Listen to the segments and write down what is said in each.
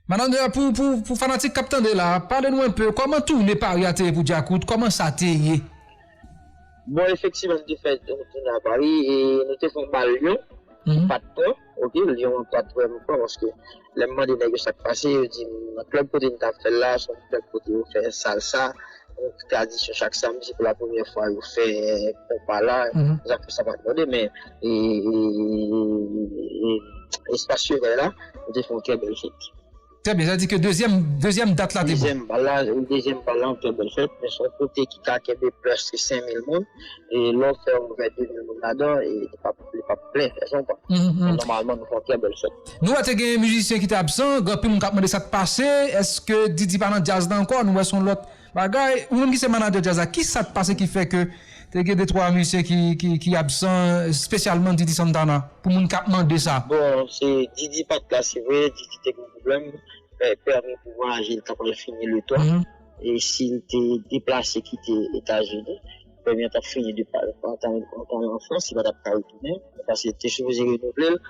Malandra pou pou pou fanatik kap tande la pale nou enpe kòman toune pari a te ye pou djakout kòman sa te ye. Bon efektivan nou te fè yon toune a pari e nou te fon bal lyon ki pat pran ok lyon an pat vrèman pran paske lèm mande nèg yo sak pase yo dim nan klèb kote nou tap fèl la son klèb kote yo fè salsa. Gwoup Tradisyon chak samdi se pou la premyè fwa yo fè konpa la, zanfo sa pat mande men espas Chevèy la nou te fè yon trè bèl fèt. Trè byen, sa vle di ke dezyèm dat la te bon? Dezyèm bal la, wi dezyèm bal la yon trè bèl fèt men se yon kote ki ka kenbe plis ke 5000 moun. e lè w fè yon vè de vin moun ladan e li pap li pap plen e sa w konprann Mhmm men nòmalman nou fè yon trè bèl fèt. Nou wè te gen mizisyen ki te absan, gen anpil moun kap mande sak pase, eske Didi pa nan djaz la ankò, nou wè son lòt bagay, ou menm ki se manadjè djaz la ki sak pase ki fè ke te gen de twa mizisyen ki ki ki absan spesyalman Didi Santana pou moun kap mande sa. Bon se Didi pat la se vre Didi te gen yon pwoblèm, pèmi pou vwayaje li ta pral fini le 3. E si l te deplase kite Etazini, premye an t ap fini depi antan l an Frans, li pa t ap ka retounen, paske yo te sipoze renouvle l.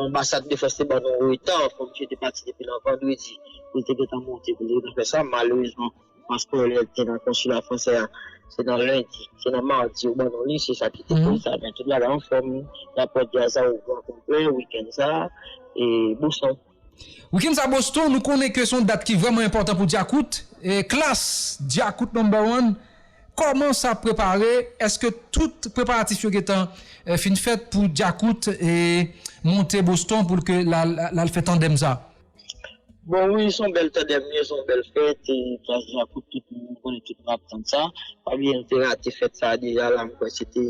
Anbasad Defans te ban nou reta, kòm misye te pati depi nan vandredi, li te gentan monte pou l te gentan fè sa. Malerezman, paspò li a ki te nan konsila fransè a, se nan lendi, se nan madi yo ban nou li, se sa ki te koz sa. Men tout bagay anfòm, lapòt Dyaza ouvri an konplè wikenn sa a, e bonswa. Weekend sa Boston nou konnen ke son dat ki vreman enpotan pou Djakout, klass Djakout number one koman sa prepare eske tout preparatif yo gentan fin fèt pou Djakout monte Boston pou l ke lal fè tandem sa. Bon wi son bèl tandem wi son bèl fèt klass Djakout tout moun konnen tout moun ap tann sa pa bliye nou te rate fèt sa deja la mwen kwè se te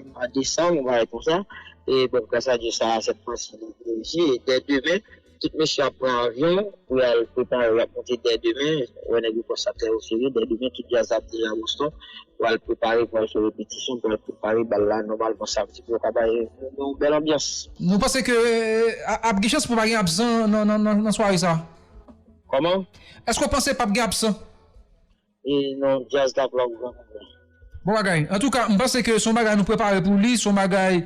mwa desanm yon bagay konsa. E bèl pasaje sa a sèt fwa si li privilejye e dè demen tout mesye ap pran avyon pou y al prepare y ap monte dè demen ou wè nèg yo pran sa trè oserye dè demen tout djaz la ap deja Boston pou al prepare pou al fè repetisyon pou al prepare bal la nòmalman samdi pou yo ka bay moun yon bèl anbyans. Nou panse ke ap gen chans pou pa gen absan nan sware sa a? Kòman? Èske w panse p ap gen absan? E non djaz la plòk granmoun la. Bon bagay. Antouka, m panse ke se yon bagay nou prepare pou li, se yon bagay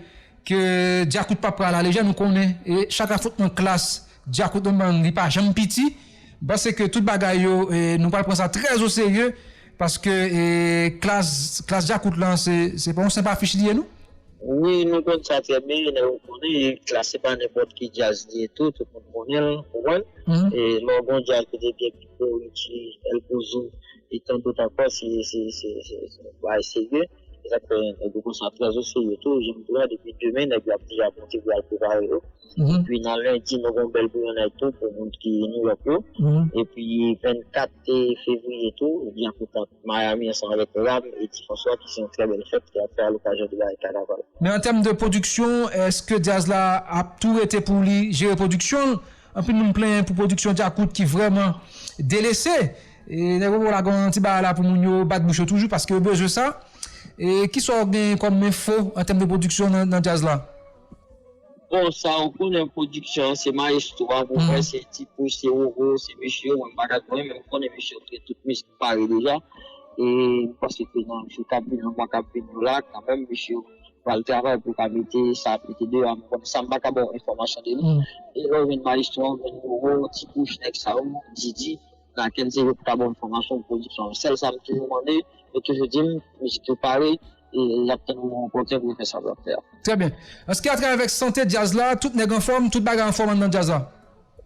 ke Djakout pap pran a la lejè. Nou konnen chak afwontman klas Djakout nan bann li pa janm piti. M panse ke tout bagay yo nou pral pran sa trè o serye paske klas klas Djakout lan se pa yon senp afich li ye non. Wi, nou konn sa trè byen, nèg yo konnen e klas se pa nenpòt ki djaz li ye tou, tout moun konnen l, ou konprann. E lè w gen yon djaz ki te byen. Bon Richie, El Pozo e tant dot ankò se bagay serye. Se sak fè nèg yo konsa trè o serye tou janm di w la depi demen nèg yo ap deja monte pou yal prepare yo. Epi nan lendi nou gon bèl bouyonnay tou pou moun ki Nouyòk yo. Epi 24 fevriye tou gen yon kout tank Miami ansanm avèk Ram e Ti Franswa ki se yon trè bèl fèt ki ap fè alokazyon de bagay kanaval. Men an tèm de pwodiksyon eske djaz la ap tou rete pou li jere pwodiksyon l Anpil moun plenyen pou pwodiksyon djakout ki vrèman delese. Nèg Bobo la gen yon ti bagay la pou moun yo bat bouch yo toujou paske yo bezwen sa. Ki sa w gen kòm enfo an tèm de pwodiksyon nan djaz la? Bon, sa ou konnen pwodiksyon an se mayestwo a pou mwen, se Ti Pouce, se Roro, se mesye yo, mwen m pa ka konnen men m konnen mesye yo gen tout mizik pare deja e m panse ke nan jou k ap vini an mwa k ap vini yo la kanmenm mesye yo pral travay pou ka mete sa ap mete deyò a mwen konn sa mpa ka baw enfòmasyon de li e lèw jwenn maestro a ou jwenn Roro, ti pouch, nèg sa yo, Didi, Naken se yo ki ka baw enfòmasyon pou pwodiksyon an sèl sam toujou mande yo toujou dim mizik yo pare e yap tann Roro pòkè pou yo fè sa yo ap fè a. Trè byen. Anske a travay avèk sante djaz la, tout nèg anfòm, tout bagay anfòm anndan djaz la?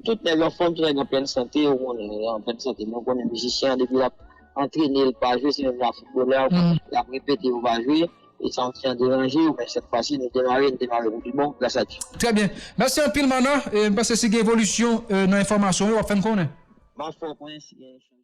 Tout nèg anfòm, tout nèg an plèn sante, ou konnen yo an plèn sante men ou konnen mizisyen an depi lap antrene li pa jwe se menm jan ak foutbolè a ou konnen lap repete yo pa jwe. E sa ki an deranje yo men sèt fwa si nou demare nou demare pou pi bon gras a Dye. Trè byen. Mèsi anpil Mana. E m panse si gen evolisyon nan enfòmasyon yo w ap fè n konnen. M ap fè w konnen si gen yon chanjman.